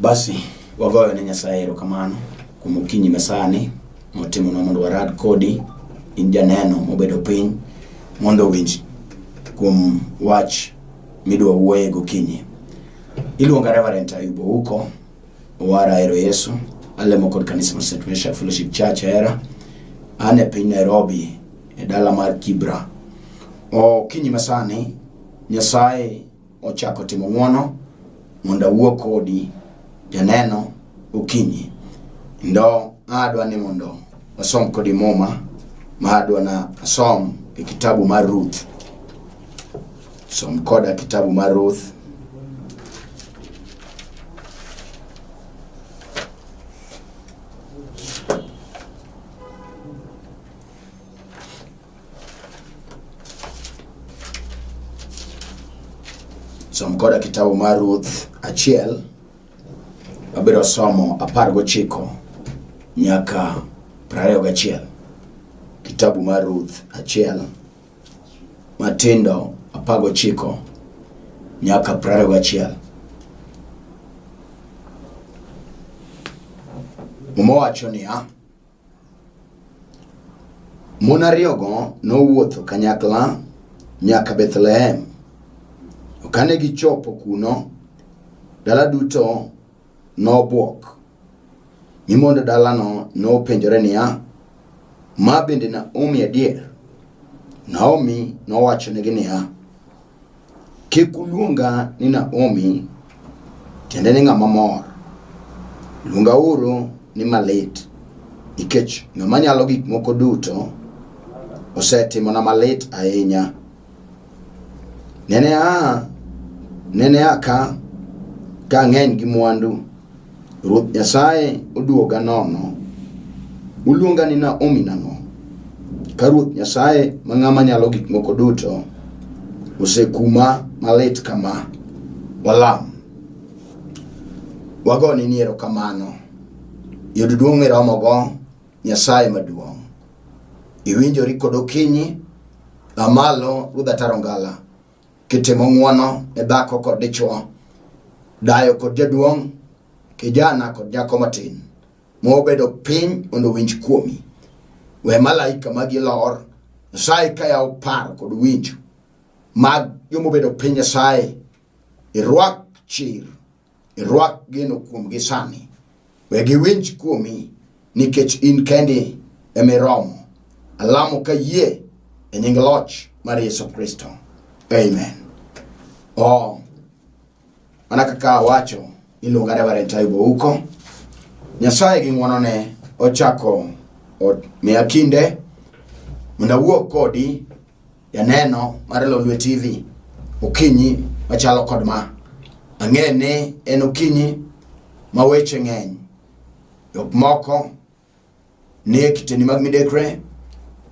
basi wagoyo ne nyasaye erokamano kuom okinyi masani motimonwa mondo warad kodi in janeno mobedo piny mondo owinj kuom wach midwa wuoye gokinyi Iluonga Reverend Ayub Ouko, Owara Ahero Yesu, alemo kod kanisa mar St. Mesha Fellowship Church Ahera. An e piny Nairobi, e dala mar Kibra. Okinyi masani, Nyasaye ochako timo ng'wono mondo awuo kodi janeno okinyi. Ndo adwa ni mondo wasom kodi muma ma adwa na asom e kitabu mar Ruth. Som koda kitabu mar Ruth. Som koda kitabu mar Ruth achiel wabiro somo apar gochiko nyaka prariyo gachiel. Kitabu mar Ruth achiel matindo apago chiko nyaka prariyo gachiel muma wacho niya mon ariyogo nowuotho kanyakla nyaka bethlehem kane gichopo kuno dala duto nobwok. Mi mond dalano nopenjore niya, Ma bende Naomi adier? Naomi nowachonegi niya, Kik uluonga ni Naomi, tiende ni ng'ama mor. Luongauru ni malit, nikech ng'ama nyalo gik moko duto osetimona malit ahinya. Nene a nene a ka ka ng'eny gi mwandu ruoth nyasaye oduoga nono uluonga ni naomi nang'o ka ruoth nyasaye ma ng'ama nyalo gik moko duto osekuma malit kama walam wagone ni erokamano yud duong' miromogo Nyasaye maduong'. Iwinjori kod okinyi, a malo Ruodh Ataro Ngala, kitimo ng'wono ne dhako kod dichwo, dayo kod jaduong', kijana kod nyako matin, mobedo piny mondo owinj kuomi. We malaika magi lor, Nyasaye ka yawo paro kod winjo mag jomobedo piny Nyasaye, irwak chir Irwak geno kuomgi sani. We giwinj kuomi nikech in kendi ema iromo. Alamo ka yie e nying loch mar Yesu Kristo. Amen. Oh, mana kaka awacho iluonga Reverend Taibo Uko. Nyasaye gi ng'wonone ochako ot- miya kinde mondo awuo kodi Janeno mar Lolwe TV okinyi machalo kod ma. Ang'e ni en okinyi ma weche ng'eny. Jok moko nie kiteni mag midekre,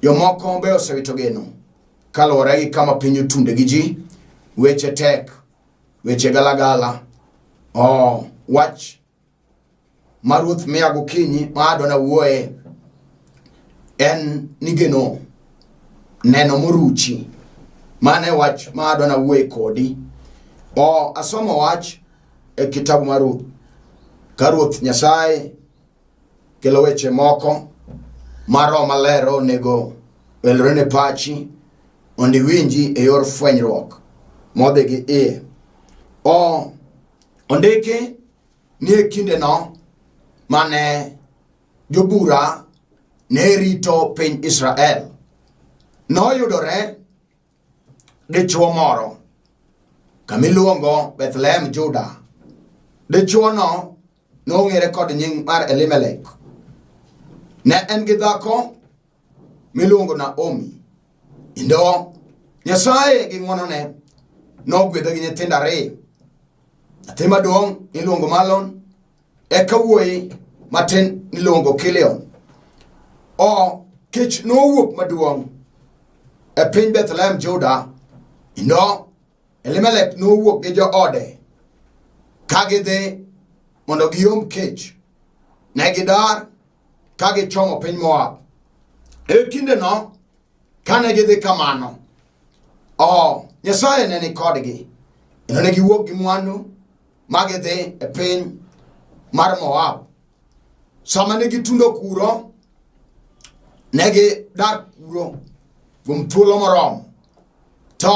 jomoko be osewito geno kaluwore gi kama piny otunde gi ji, weche tek, weche galagala. Oh, wach ma ruoth miya gokinyi ma adona wuoye en nigeno neno moruchi mano e wach ma adona wuoye kodi o asomo wach e kitabu mar ruoth ka ruoth nyasaye kelo weche moko ma roho maler onego welre ne pachi mondo iwinji e yor fwenyruok modhi gi iye o Ondiki ni e kindeno mane jobura ne rito piny Israel, noyudore dichuo moro kamiluongo Bethlehem Juda. Dichuono nong'ere kod nying mar Elimelek. Ne en gi dhako miluongo Naomi. Kendo Nyasaye gi ng'wonone nogwedha gi nyithindo ariyo. Nyathi maduong' niluongo Malon, eka wuoyi matin niluongo Kilion. O kech nowuok maduong' e piny Bethlehem Juda, kendo Elimelek nowuok gi joode ka gidhi mondo giom kech. Ne gidar ka gichomo piny moab e kindeno kane gidhi kamano o nyasaye ne ni kodgi kendo ne giwuok gi mwandu ma gidhi e piny mar moab sama ne gitundo kuro ne gidak kuro kuom thuolo moromo to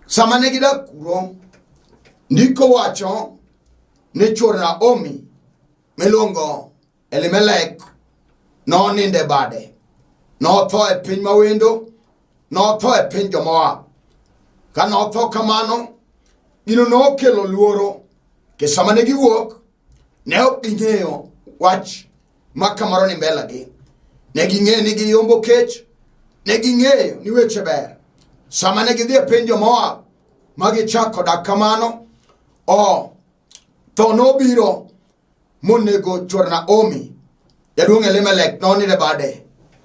sama ne gidak kuro ndiko wacho ni chwor naomi miluongo elimelek noninde bade notho e piny mawendo notho e piny jomoab ka notho kamano gino nokelo luoro ke sama ne giwuok ne ok ging'eyo wach ma kamoro ni mbelagi ne ging'eyo ni giyombo kech ne ging'eyo ni weche ber sama ne gidhi e piny jomoab ma gichako dak kamano o oh, Tho nobiro monego chwor Naomi, jaduong' Elimelek nonire bade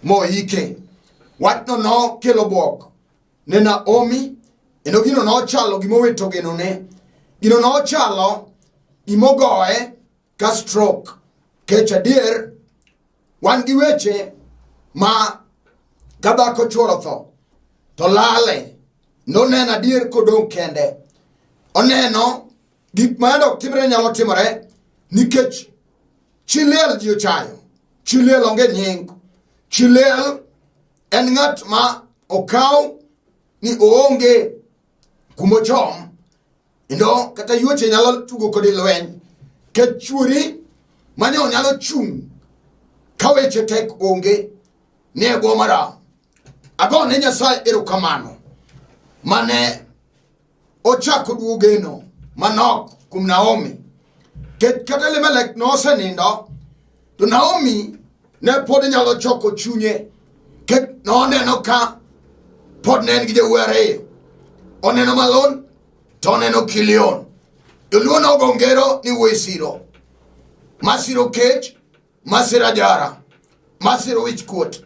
moike. Wachno nokelo bwok ne Naomi, kendo gino nochalo gima owito genone. Gino nochalo gima ogoye ka stroke. Kech adier wan gi weche ma ka dhako chuoro tho to lale noneno adier kodong' kende oneno gik ma yande ok timre nyalo timore nikech chi liel ji ochayo chi liel onge nying chi liel en ng'at ma okaw ni oonge kumochom Kendo kata yuoche nyalo tugo kodi lweny ka chuori mane onyalo chung' ka weche tek onge ne e bwo maram. Ago ne Nyasaye erokamano mane ochako duo geno manok kuom Naomi. Kech kata Elimelek nosenindo To Naomi ne pod nyalo choko chunye ke noneno ka pod ne en gi jowuoyi ariyo. Oneno Malon to oneno Kilion. Joluo nogo ngero ni wuoyi siro. Ma siro kech, ma siro ajara, ma siro wich kuot.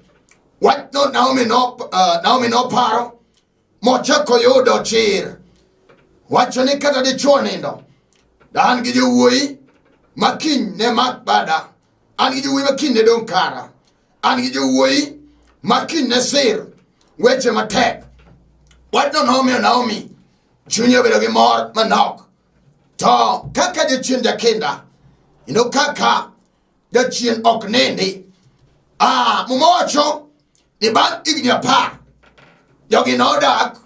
Wachno Naomi no, uh, Naomi noparo mochako yudo chir wacho ni kata dichuo nindo da an gi jowuoyi ma kiny ne mak bada an gi jowuoyi ma kiny ne dong' kara an gi jowuoyi ma kiny ne sir weche matek wachno nomiyo naomi chunye obedo gi mor manok to kaka jachien jakinda ino kaka jachien ok nindi ah, muma wacho ni bang' higni apar jogi nodak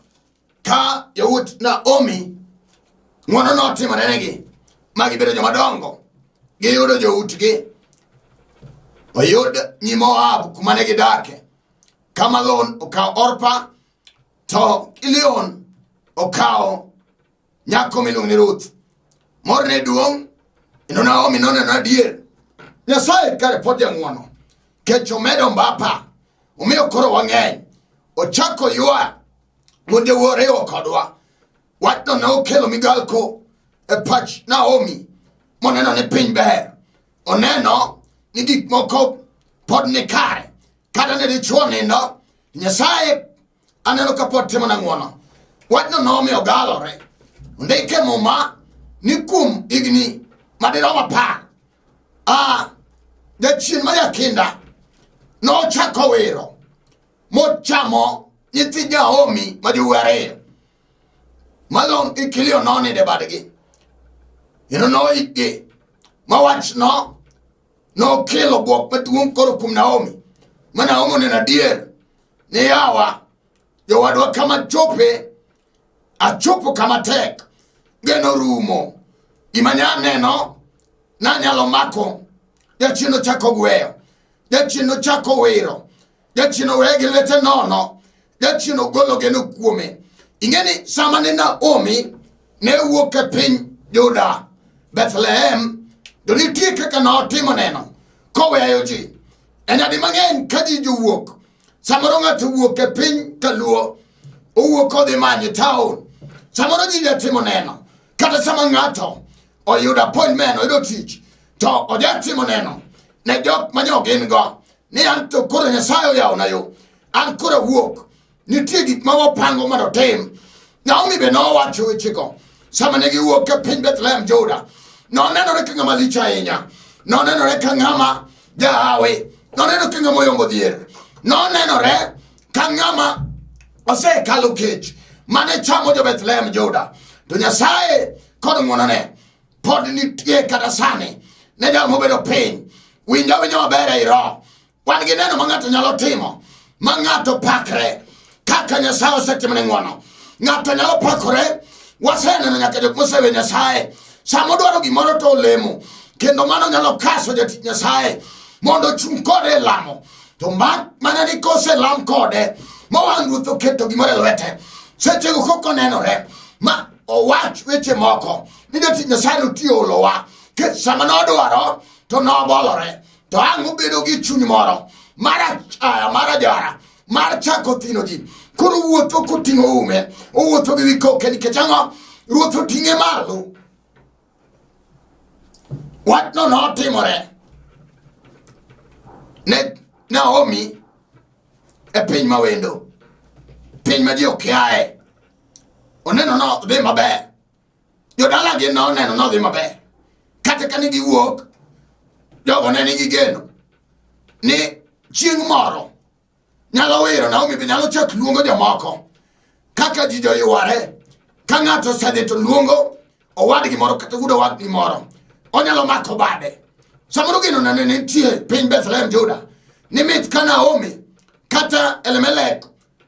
ka yawuot naomi ng'wono notimorenegi ma gibedo jomadongo giyudo joutgi oyud nyi moab kuma ne gidake ka malon okawo orpa to kilion okawo Nyako miluongo ni Ruth. Morne duong', ino Naomi noneno adier. Nyasaye kare pod jang'wono. Kech omedo mbapa. Omiyo koro wang'eny. Ochako ywa monde woriwo kodwa. Wachno ne okelo migalko e pach Naomi moneno ni piny ber. Oneno ni gik moko pod ni kare. Kata ne dichwo nindo, Nyasaye aneno ka pod timona ng'wono wachno nomiyo galore ndike muma ni kuom higni madirom apar a jachien ma jakinda nochako wiro mochamo nyithi jaomi ma jowuowi ariyo malon gi kilio nonide badgi kendo noikgi ma wachno nokelo bwok maduong' koro kuom naomi ma naomi oneno adier ni yawa jowadwa kama chope achopo kama tek geno rumo gima nya neno nanyalo mako jachien ochako gweyo jachien ochako wiro jachien oweye gi lwete nono jachien ogolo geno kuome ing'e ni sama ne naomi ne wuok e piny juda bethlehem to nitie kaka notimo neno koweyo ji e nyadi mang'eny ka ji jowuok samoro ng'ato wuok e piny kaluo owuok odhi manyo taon samoro ji jatimo neno kata sama ng'ato oyudo appointment oyudo tich to ojatimo neno ne jok ma jo gin go ni an to koro nyasaye oyawona yo an koro awuok nitie gik ma wapango mondo otim naomi be nowacho wechego sama ne giwuok e piny bethlehem juda nonenore ka ng'ama lich ahinya nonenore ka ng'ama jahawi noneno ka ng'ama oyombo dhier nonenore ka ng'ama osekalo kech mane chamo jo bethlehem juda to nyasaye kod ng'wonone pod nitie kata sani ne jal mobedo piny winja winja maber ei roho wan gi neno ma ng'ato nyalo timo ma ng'ato pakre kaka nyasaye osetimone ng'wono ng'ato nyalo pakore waseneno nyaka jok mosewe nyasaye sama odwaro gimoro to olemo kendo mano nyalo kaso jatich nyasaye mondo ochung' kode e lamo to ma- mana ni koselam kode mowang' ruoth oketo gimoro e lwete sechego kok onenore ma owach weche moko ni jatich nyasaye notiyo olowa kech sama nodwaro to nobolore to ang' obedo gi chuny moro mar achaya mar ajara mar chako thino ji koro wuotho koting'o ume owuotho gi wikoke nikech ang'o ruoth oting'e malo wachno notimore ne naomi e piny mawendo piny ma ji okiaye oneno no dhi maber jodala gi no oneno no dhi maber kata ka ne giwuok jogo ne nigi geno ni chieng' moro nyalo wiro naomi be nyalo chak luongo jomoko kaka ji joyware ka ng'ato osedhi to luongo owadgi moro kata wuod owadgi moro onyalo mako bade samoro geno nane nitie piny bethlehem juda ni mit ka naomi kata elemelek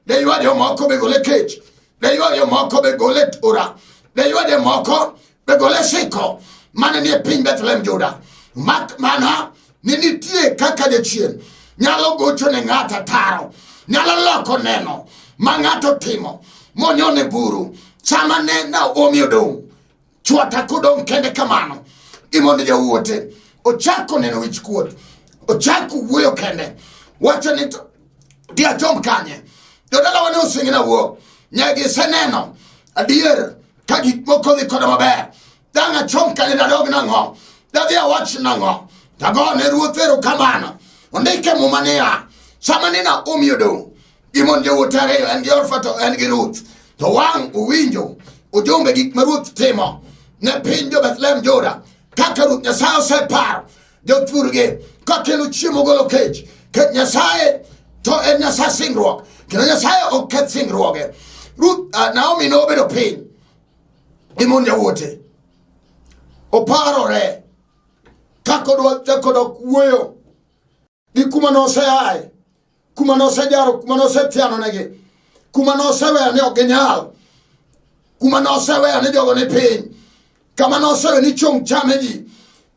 Ne ywa jomoko be gole kech. Ne ywa jomoko be gole tura. Ne ywa jomoko be gole siko mane nie piny Bethlehem Juda. Mak mana ni nitie kaka jachien nyalo gocho ne ng'ato ataro nyalo loko neno ma ng'ato timo monyone buru sama ne naomi odong' chwata kodong' kende kamano imondo jawuote ochako neno wich kuot ochako wuoyo kende wacho ni to diachom kanye jodalawa ne osengina wuo ne giseneno adier ka gik moko dhi koda maber dang' achom kanye dadog nang'o dadhi awach nang'o dagone ruoth erokamano ondike muma niya sama ni naomi odong' Gimon jowuot ariyo en gi Orfa to en gi Ruth. To wang' uwinjo ujumbe gik ma Ruth timo ne piny jo Bethlehem Juda kaka Ruth Nyasaye oseparo jothurgi kakelo chiemo golo kech kech Nyasaye to en Nyasaye singruok kendo Nyasaye ok keth singruoge. Ruth uh, Naomi nobedo piny gi mon jawuote oparore kakodwa chakodok wuoyo gi kuma noseaye kuma nosejaro kuma nosethianonegi kuma noseweyo ni ok ginyal kuma noseweyo ni jogo ni piny kama noseweyo ni chung' chame ji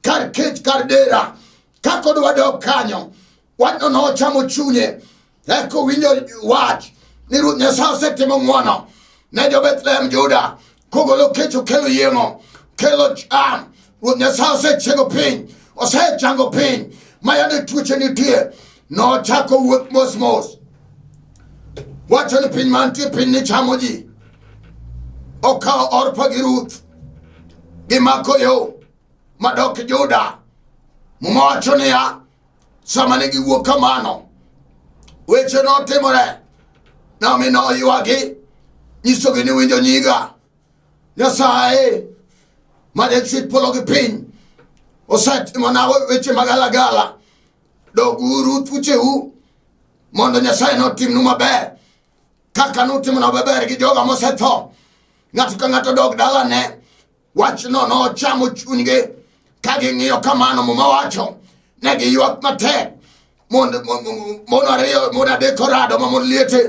kar kech kar dera kakodwa dok kanyo wachno nochamo chunye eka owinjo wach ni ruoth nyasaye osetimo ng'wono ne jo-bethlehem juda kogolo kech okelo yieng'o kelo cham ruoth nyasaye osechiego piny osechango piny ma yande tuoche nitie nochako wuoth mosmos wacho ni piny mantie piny ni chamo ji okawo orpa gi ruth gimako yo madok juda muma wacho niya sama ne giwuok kamano weche notimore nami noywagi nyisogi ni winjo nyiga nyasaye ma jachwech polo gi piny osetimona weche magalagala doguru thucheu mondo nyasaye notimnu maber kaka nutimona maber gi joga mosetho ng'ato ka ng'ato dog dalane wachno nochamo chunygi ka ging'iyo kamano muma wacho ne giywak matek mon ariyo mon adek orado ma mon liete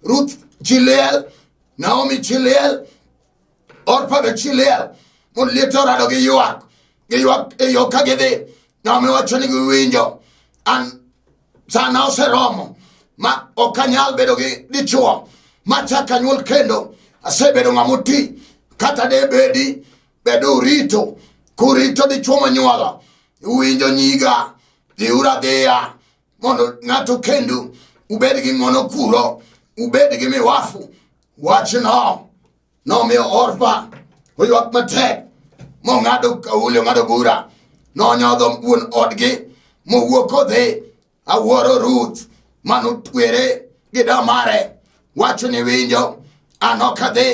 ruth chiliel naomi chiliel orpa be chiliel mon liete orado gi ywak gi ywak e yo ka gidhi naomi wacho ni giwinjo an sana oseromo ma ok anyal bedo gi dichuo ma chak anyuol kendo asebedo ng'ama oti kata de bedi bedo urito kurito dichuo monyuolo uwinjo nyiga dhiura dhiya mondo ng'ato kendu ubed gi ng'wono kuro ubed gi miwafu wachno Nomiyo Orpa oywak matek, mong'ado kauli, ong'ado bura. Nonyodho wuon odgi, mowuok odhi. Awuoro Ruth, mane otwere gi da mare. Wacho ni winjo, an ok adhi.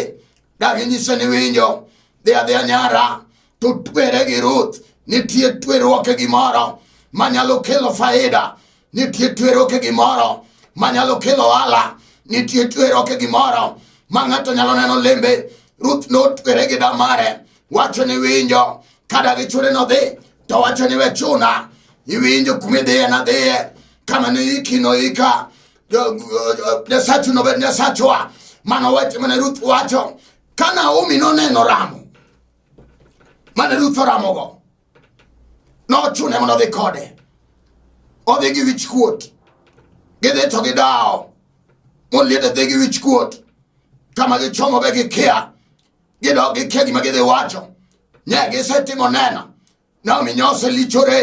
Dagi nyiso ni winjo, dhi adhiya nyara, to twere gi ruth nitie tweruoke gimoro manyalo kelo faida nitie tweruoke gimoro manyalo kelo ohala nitie tweruoke gimoro ma ng'ato nyalo neno lembe ruth notwere gi damare wacho ni winjo kada gi chune nodhi to wacho ni we chuna iwinjo kumidhiye nadhiye kama noiki noika nyasachu nobed nyasachwa mano wacho mana ruth wacho ka naomi noneno ramo mane ruth oramogo nochune mondo odhi kode odhi gi wich kuot gidhi to gidawo moliet odhi gi wich kuot kama gichomo be gikia gidok gikia gima gidhi wacho ne gisetimo neno nam inyose lichore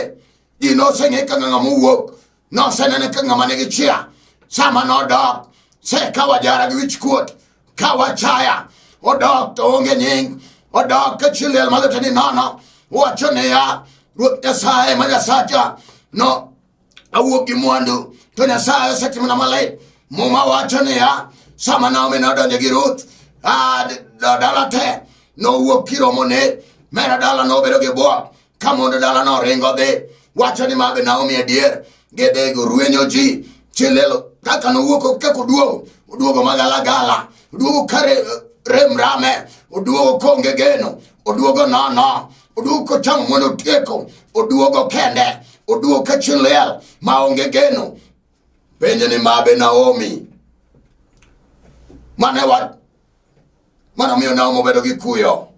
ji noseng'e ka ng'ama mowuok nosenene ka ng'ama nigi chia sama nodok se ka wajara gi wichkuot ka wachaya odok to onge nying odok ka chiliel malete ni nono wacho niya ruoth nyasaye ma nyasacha no awuok gi mwandu to nyasaye osetimona malay muma wacho niya sama naomi nodonjo gi ruth dala te nowuok kiromone mera dala nobedo gi bwa ka mondo dala noringo dhi wacho ni mabe naomi adier gidhi gorwenyo ji chilelo kaka nowuok kaka oduogo oduogo magalagala oduogo kare remrame oduogo konge geno oduogo nono oduogo kochamo mondo otieko oduogo kende oduogo ka chieng' liel ma onge geno penje ni mabe naomi mane wach mane omiyo naomi obedo gi kuyo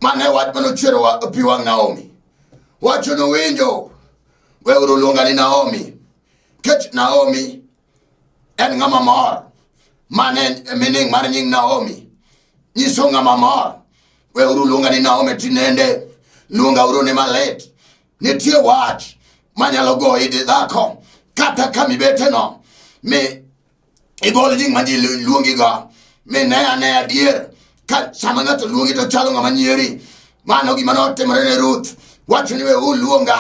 mane wach mane ochwero wa- pi wang' naomi wacho nowinjo weuru luonga ni naomi kech naomi en ng'ama mor mane mining mar nying naomi nyiso ng'ama mor weuru luonga ni naomi tinende luonga uru ni malit nitie wach manyalo goyi di dhako kata ka mibeteno mi igol nying ma ji luongigo mi ne ane adier ka sama ng'ato luongi to chalo ng'ama nyieri mano gima notimore ne ruth wacho ni weuru luonga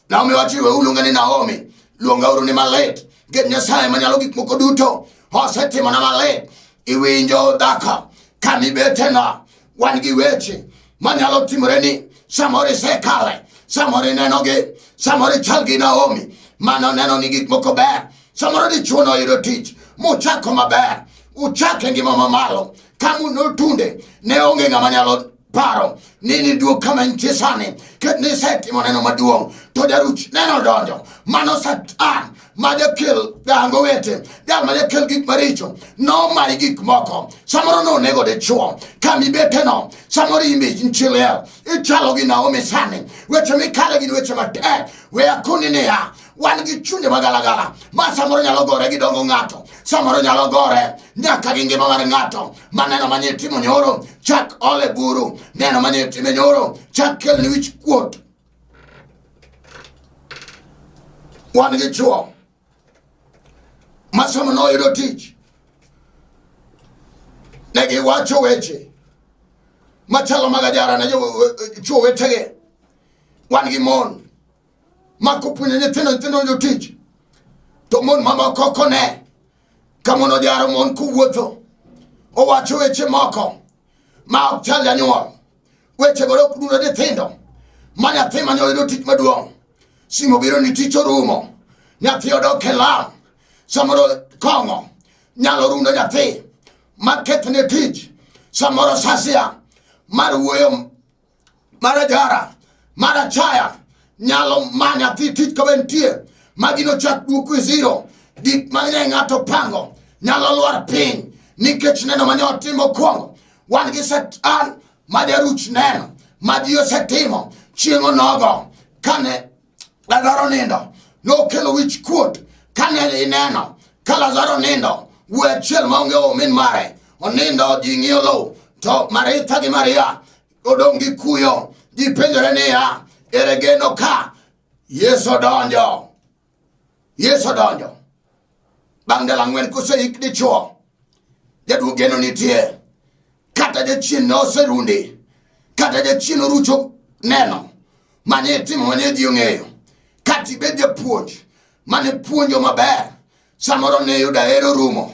Naomi wacho iwe uluonge ni Naomi, luonga uru ni malit. Nikech Nyasaye manyalo gik moko duto osetimona malit. Iwinjo dhako ka mibetena, wan gi weche manyalo timoreni. Samoro isekale, samoro inenogi, samoro ichal gi Naomi mano neno ni gik moko ber. Samoro dichwo noyudo tich mochako maber, uchake ngima mamalo, kamu notunde, ne onge ng'ama nyalo paro ni niduog kama nitie sani nisetimo neno maduong' to jaruch neno donjo mano satan ma jakel dango wete jal ma jakel gik maricho nomayi gik moko samoro nonego dichuo kamibeteno samoro imbe nchiliel ichalo gi naomi sani weche mikale gin weche matek we akoni niya wan gi chunje magalagala ma samoro nyalo gore gi dongo ng'ato samoro nyalo gore nyaka gi ngima mar ng'ato ma neno manye itimo nyoro chak ole buru neno manye itime nyoro chak kelni wich kuot wan gi chuo masomo noyudo tich ne giwacho weche machalo mag ajara ne chuo wetege wan gi mon ma kopuonjo nyithindo nyithindo onjo tich to mon mamoko kone ka mon ojaro mon kowuotho owacho weche moko ma ok chal janyuol wechego ok dudo nyithindo ma nyathi mane oyudo tich maduong' simo biro ni tich orumo nyathi odok e lam samoro kong'o nyalo rundo nyathi ma kethne tich samoro sasia mar wuoyo mara jara mara chaya nyalo manya dhi tich ka be nitie ma gino chak duoku e zero gik ma ne ng'ato pango nyalo lwar piny nikech neno mane otimo kwongo wan gi satan ma jaruch neno ma ji osetimo chieng' onogo kane lazaro nindo nokelo wich kuot kane ineno ka lazaro nindo wuoyi achiel maonge omin mare onindo ji ng'iyo lowo to maritha gi maria odong' gi kuyo ji penjore niya ere geno ka yesu odonjo yesu odonjo bang' ndalo ang'wen koseik dichwo jaduo geno nitie kata jachien ne oserundi kata jachien orucho neno mane itimo mane ji ong'eyo kata ibed japuonj mane puonjo maber samoro ne yudo ahero rumo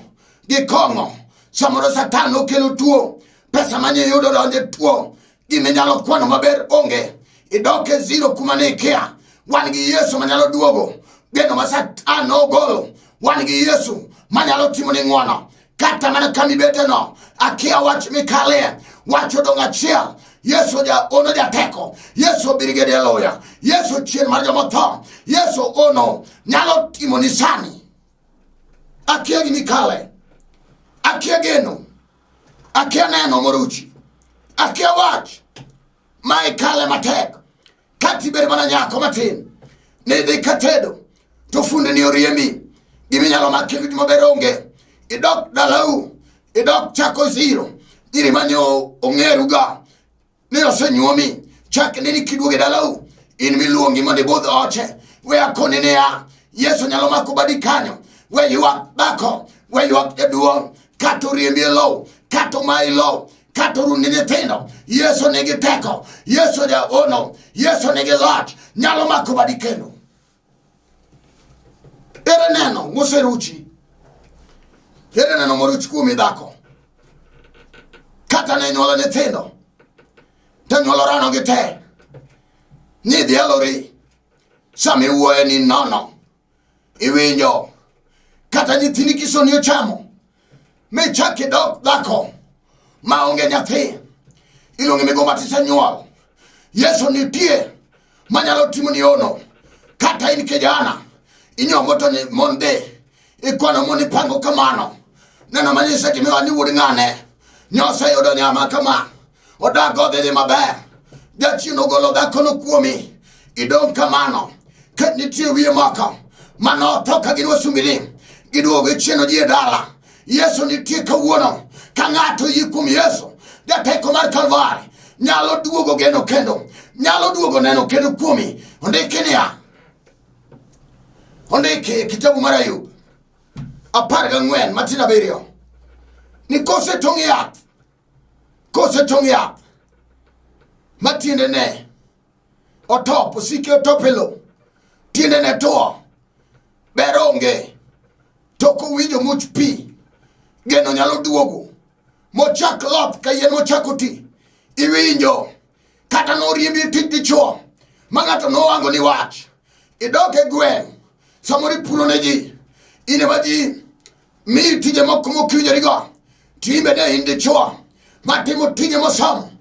gi kong'o samoro satan nokelo tuo pesa mane yudo donje tuo gima inyalo kwano maber onge idok e zero kuma ne ikia wan gi yesu manyalo duogo geno ma satan nogolo wan gi yesu manyalo timo ni ng'wono kata mana kama ibeteno akia wach mikalie wach odong' achiel yesu ono jateko yesu birigedi e loya yesu chien mar jomotho yesu ono nyalo timo ni sani akia gi mikale akia geno akia neno moruchi akia wach ma ikale matek ka tibed mana nyako matin nidhi ka tedo to fundeni oriemi giminyalo maki maber onge idok dalau idok chako ziro nyiri manyo ong'eruga ni osenyuomi chak neni kiduogo e dalau in miluongi mondo ibudh oche we akoni niya yesu nyalo mako badi kanyo we ywak dhako we ywak jaduong' kata oriembi e lowo kata omayi lowo kata orundi nyithindo yesu nigi teko yesu jaono yesu nigi loch nyalo mako badi kendo Ere neno moseruchi? Ere neno moruch kuomi dhako? Kata ne nyuolo nyithindo, to nyuolo rano gi te. Nyidhi elori, sama iwuoye ni nono, iwinjo. Kata nyithini kisoni ochamo, michak idok dhako ma onge nyathi iluonge migo matisenyuol yesu nitie manyalo timo ni ono kata in kijana inyombo to ni mon dhi ikwano mon ipango kamano neno manyise gimiwa ni wuod ng'ane nyoseyudo nyama kama odak odhi dhi maber jachien ogolo dhakono kuomi idong' kamano ket nitie wiye moko mane otho ka gin wasumbini giduogo ichieno ji e dala yesu nitie kawuono ka ng'ato yie kuom yesu jateko mar kalvari nyalo duogo geno kendo nyalo duogo neno kendo kuomi ondiki niya ondiki e kitabu mar ayub apar gang'wen matin abiriyo ni kosetong' yath kosetong' yath ma tiendene otop osike otop e lo tiendene two ber onge to kowinjo much pi geno nyalo duogo mochak loth ka yien mochako ti iwinjo kata noriembi tij dichuo ma ng'ato nowango ni wach idok e gweng' samoro ipuro ne ji in ema ji mi tije moko mokiwinjorigo to in bende in dichwo matimo tije mosomo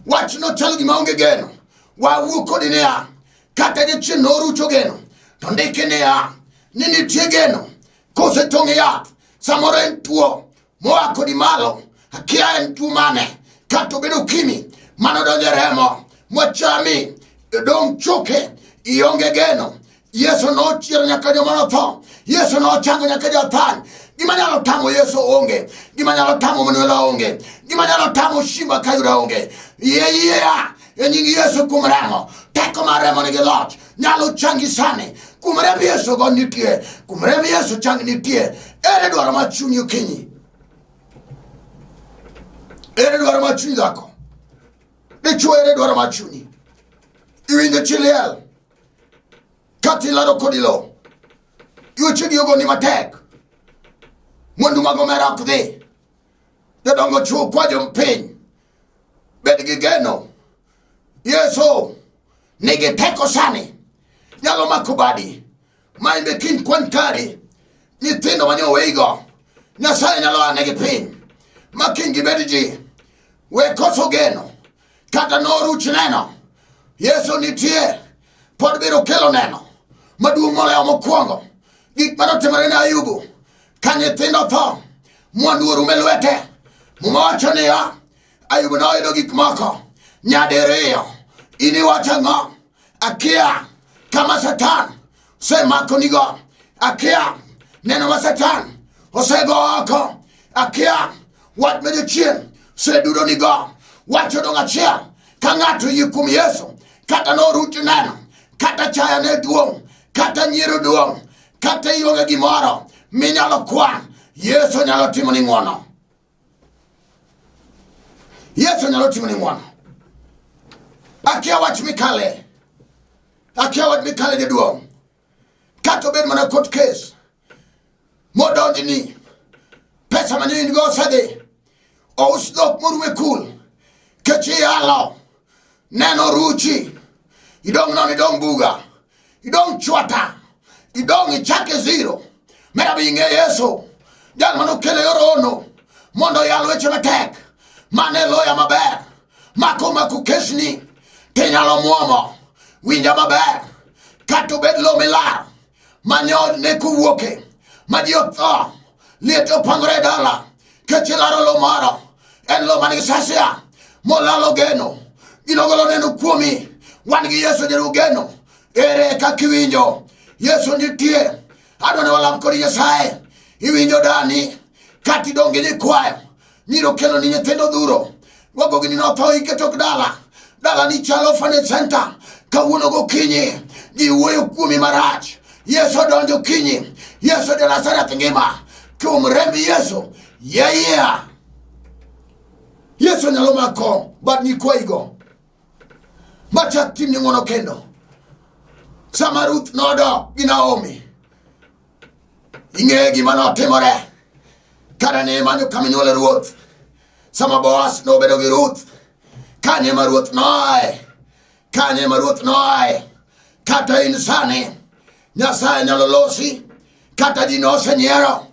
wachno chalo gima onge geno wawuo kodi niya kata jachien norucho geno to ndiki niya ni nitie geno kosetong'e yath samoro en tuo moa kodi malo akia en tuo mane kata obedo ukimi manodonjo e remo mochami dong' choke ionge geno yesu nochiero nyaka joma notho yesu nochango nyaka jathan gima nyalo tamo yesu onge gima nyalo tamo manuela onge gima nyalo tamo shimba kayuda onge yeyeya e nying yesu kuom remo teko mar remo nigi loch nyalo changi sani kuom remb yesu go nitie kuom remb yesu chang nitie ere dwaro ma chunyi okinyi ere dwaro ma chunyi dhako dichuo ere dwaro ma chunyi iwinjo chiliel kata ilaro kodi lo yuecho gi ogoni matek mwandu mag omera ok dhi jodongo chuo kwa jompiny bed gi geno yesu nigi teko sani nyalo mako badi ma in be kiny kwan kari nyithindo mane oweigo nyasaye nyalo anegi piny ma kiny gibed ji we koso geno kata noruch neno yesu nitie pod biro kelo neno maduong' moloyo mokwongo gik ma notimore ne ayubu ka nyithindo tho mwandu orum e lwete muma wacho niya ayubu noyudo gik moko nyadiriyo in iwacho ang'o akia kama satan osemako nigo akia neno ma satan osego oko akia wach ma jochien osedudo nigo wacho dong achiel ka ng'ato yie kuom yesu kata noruch neno kata chaya ne duong' kata nyiero duong' kata ionge gimoro minyalo kwan yesu nyalo timo ni ng'wono yesu nyalo timo ni ng'wono akia wach mikale akia wach mikale jaduong' kata obed mana court case modonji ni pesa mane in go osedhi ous dhok moruwe kul kech iyalo neno ruchi idong' non idong' buga idong' chwata idong' ichake zero mer abi ing'e yesu jal mane okelo yor ono mondo oyal weche matek mane loya maber mako mako kesni tinyalo mwomo winja maber kata obed lo milar manyo ne kowuoke ma ji otho liet opangore e dala kech ilaro lo moro en lo manigi sasia molalo geno ginogolo neno kuomi wan gi yesu jeru geno ere kaka iwinjo yesu nitie adwa ni walam kod nyasaye iwinjo dani kati donge ni kwayo Miro kelo ni nyithindo dhuro. Wago gini notho ike tok dala. Dala ni chalo fane center. Kawuono gokinyi. Ji wuoyo kuomi marach. Yesu odonjo kinyi. Yesu de Nazareth ngima. Kuom remb Yesu. Yeah, yeah. Yesu nyalo mako bad nyikwayigo. Machak tim ni ng'wono kendo. Sama Ruth nodok gi Naomi. ing'eyo gima notimore kane ne imanyo kama inywole ruoth sama boas nobedo gi ruth kanye ma ruoth noae kanye ma ruoth noae kata in sani nyasaye nyalo losi kata ji nosenyiero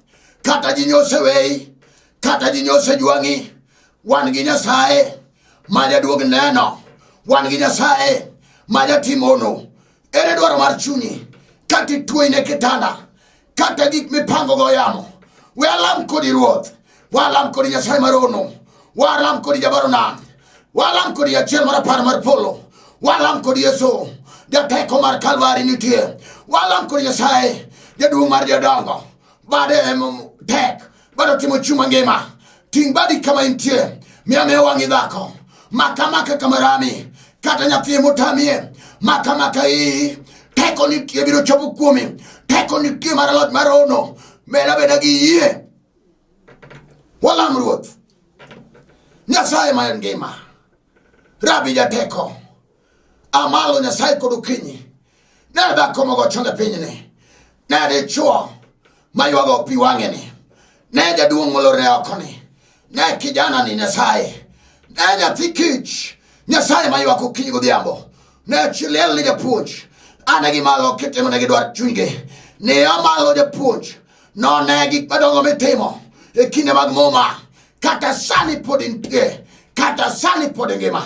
kata ji nyoseweyi kata ji nyosejwang'i wan gi nyasaye ma jaduog neno wan gi nyasaye ma jatimono ere dwaro mar chunyi kata ituoi ne kitanda kata gik mipango go yamo we alam kodi ruoth walam kodi nyasaye marono walam kodi jabaro nam walam kodi achiel mar apar mar polo walam kodi yesu jateko mar kalvari nitie walam kodi nyasaye jaduong' mar jodongo bade em tek bado timo chuma ngima ting' badi kama intie miame wang'i dhako maka maka kama rami kata nyathi motamie maka maka iyi teko nitie biro chopo kuomi teko nitie mar loch mar ono meda beda gi yie walam ruoth nyasaye ma en ngima rabi jateko amalo nyasaye kod okinyi ne dhako mogo chonge pinyni ne dichuo maywago pi wang'eni ne jaduong' molorne okoni ne kijana ni nyasaye ne nyathi kich nyasaye maywak okinyi godhiambo ne chiliel ni japuonj ane gimalo kitimo ne gidwar chunygi ne amalo japuonj none gik madongo mitimo e kinde mag muma kata sani pod intie kata sani pod ingima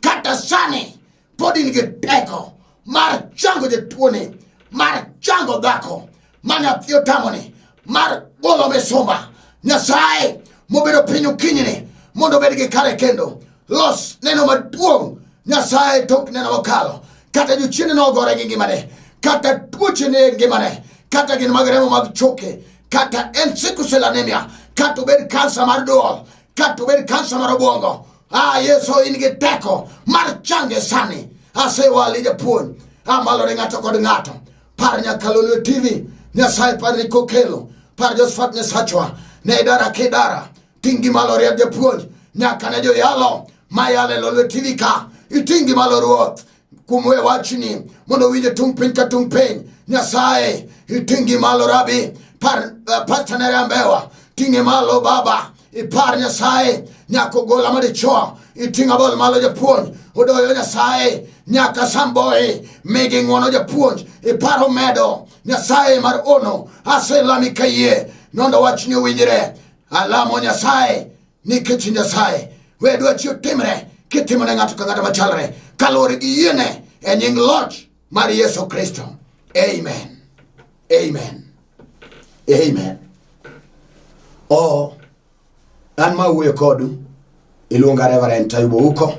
kata sani pod in gi teko mar chango jatuoni mar chango dhako ma nyathi otamoni mar golo misumba nyasaye mobedo piny okinyini mondo obed gi kare kendo los neno maduong' nyasaye tok neno mokalo kata jochiende nogore gi ngimane kata tuochene ngimane kata gin mag remo mag choke kata en sickle cell anemia kata obed kansa mar duol kata obed kansa mar obwongo ah yesu in gi teko mar change sani asewali japuonj amalore ng'ato kod ng'ato par nyakalolwe tv nyasaye par ni kokelo par josfat nyasachwa ne idara kidara Tingi malo riek japuonj nyaka ne joyalo mayale lolwetini ka itingi malo ruoth kuom we wachni mondo winje tung' piny ka tung' piny nyasaye itingi malo rabi par uh, pasta nere ambewa ting'e malo baba ipar nyasaye nyaka ogola madichwo iting' abol malo japuonj odoyo nyasaye nyaka samboe migi ng'wono japuonj iparo medo nyasaye mar ono aselami kayie nondo wachni owinjre alamo nyasaye nikech nyasaye we dwa chiyo timre kitimo ne ng'ato ka ng'ato machalre kaluwore gi yiene e nying loch mar yesu kristo amen amen amen o an ma wuoyo kodu iluonga reverend tayubo uko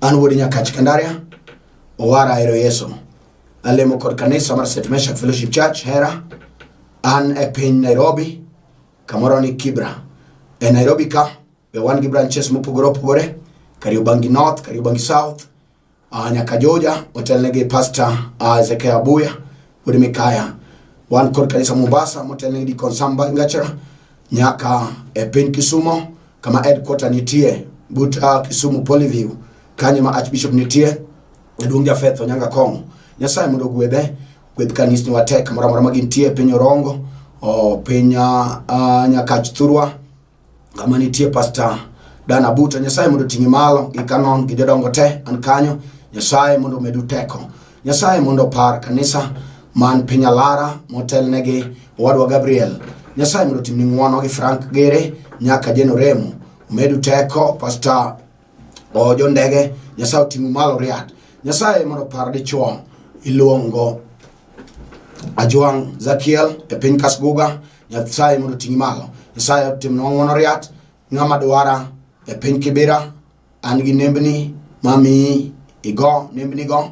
an wuod nyakach kandaria owara ahero yesu alemo kod kanisa mar st meshak fellowship church hera an e piny nairobi kamoro ni kibra e nairobi ka be wan gi branches mopogore opogore kariobangi north kariobangi south uh, nyaka joja otelnegi pastor uh, ezekiel abuya wuod mikaya wan kod kanisa mombasa motelnegi dikon samba ngachra nyaka e piny kisumo kama headquarter nitie but uh, kisumu polyview kanyo ma archbishop nitie jaduong' jafeth onyanga kong'o nyasaye mondo ogwedhe kweth kanisni watek moro amora ma gintie e piny orongo o, piny ah, ah, nyakach thurwa kama nitie pasta dana buta nyasaye mondo oting'e malo gi kanon gi jodongo te an kanyo nyasaye mondo omedu teko nyasaye mondo opar kanisa man piny alara motelnegi owadwa gabriel nyasaye mondo otimni ng'wono gi frank gere nyaka jenoremo omedu teko pasta o jo ndege nyasaye oting'u malo riat nyasaye mondo par dichuo iluongo ajwang' zakiel e piny kasguga nyasaye mondo oting'i malo nyasaye otimnwa ng'wono riat ng'ama dwara e piny kibira an gi nembni mamiyi igo nembnigo